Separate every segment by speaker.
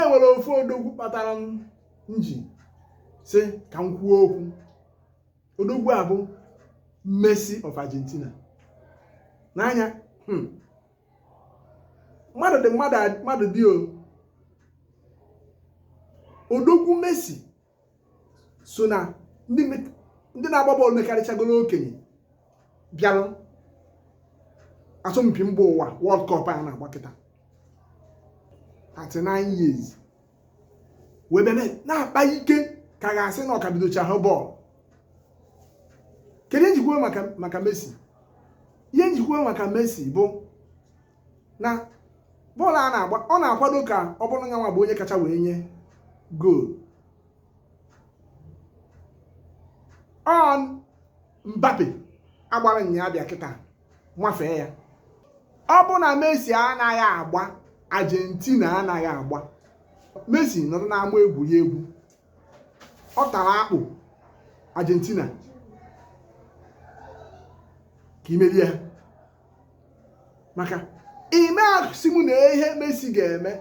Speaker 1: e nwere ofu odogwu kpatara m ji sị ka m kwuo okwu odogwu a bụ Messi of Argentina n'anya hmm. mmadụ dị mmadụ dị o odogwu Messi so na ndị na-agba bọọlụ mekarịchagoro okenye bịarụ asọmpi mba ụwa World Cup a na-agba kịta 39 years wee bịa na-akpa ike ka a ga-asị na ọ ka bidochara bọọlụ kedu ihe m ji kwuo maka Messi ihe m ji kwuo maka Messi bụ na bọọlụ a na-agba ọ na-akwado ka ọ bụrụ ya nwa bụ onye kacha wee nye goolu on Mbappe agbara nya abịa kịta wafee ya ọ bụ na Messi anaghị agba Argentina anaghị agba Messi nọrọ n'ama egwuregwu ọ tara akpụ Argentina ka e merie ha maka ime asị m na ihe Messi ga-eme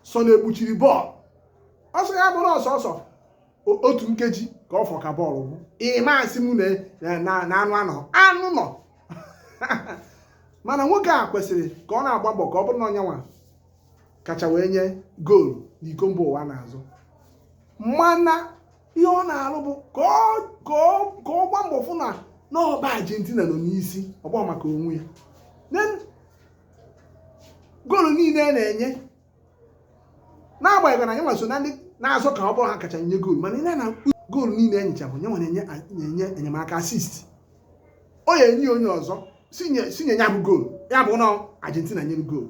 Speaker 1: sọ na-ekpuchiri bọọlụ ọ sọ ya bụrụ na ọ sọsọ otu nkeji ka ọ fọ ka bọọlụ gwụ ime asị m na anụ anọ anụ nọ mana nwoke a kwesịrị ka ọ na-agba mbọ ka ọ bụrụ na ọ nya nwa kacha wee nye goolu n'iko mba ụwa a na-azọ mana ihe ọ na-alụ bụ ka ọ gbaa mbọ fụ na ọ bụ Argentina nọ n'isi ọ bụghị maka onwe ya goolu niile a na-enye n'agbanyeghị na nya nwa so na ndị na-azọ ka ọ bụrụ ha kacha nye goolu mana ị na goolu niile e nyecha bụ nya nwa na-enye enyemaka assist ọ ya enye onye ọzọ sị nye ya bụ goolu ya bụ na Argentina nyere goolu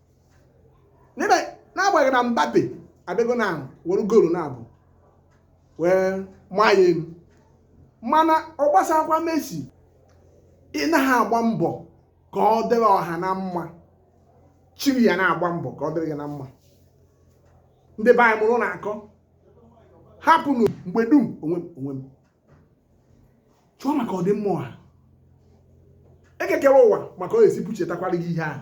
Speaker 1: n'ebe n'agbanyeghị na Mbappe abịago na were goolu naabọ wee maa ya elu mana ọ gbasaghịkwa Messi ị na-agba mbọ ka ọ dịrị ọha na mma chi gị ana-agba mbọ ka ọ dịrị gị na mma ndị be anyị mụrụnụ akọ hapụnụ mgbe dum onwe m onwe m chọọ maka ọdịmma ọha Eke kere ụwa ma ka ọ ga-esi buchetakwara gị ihe ahụ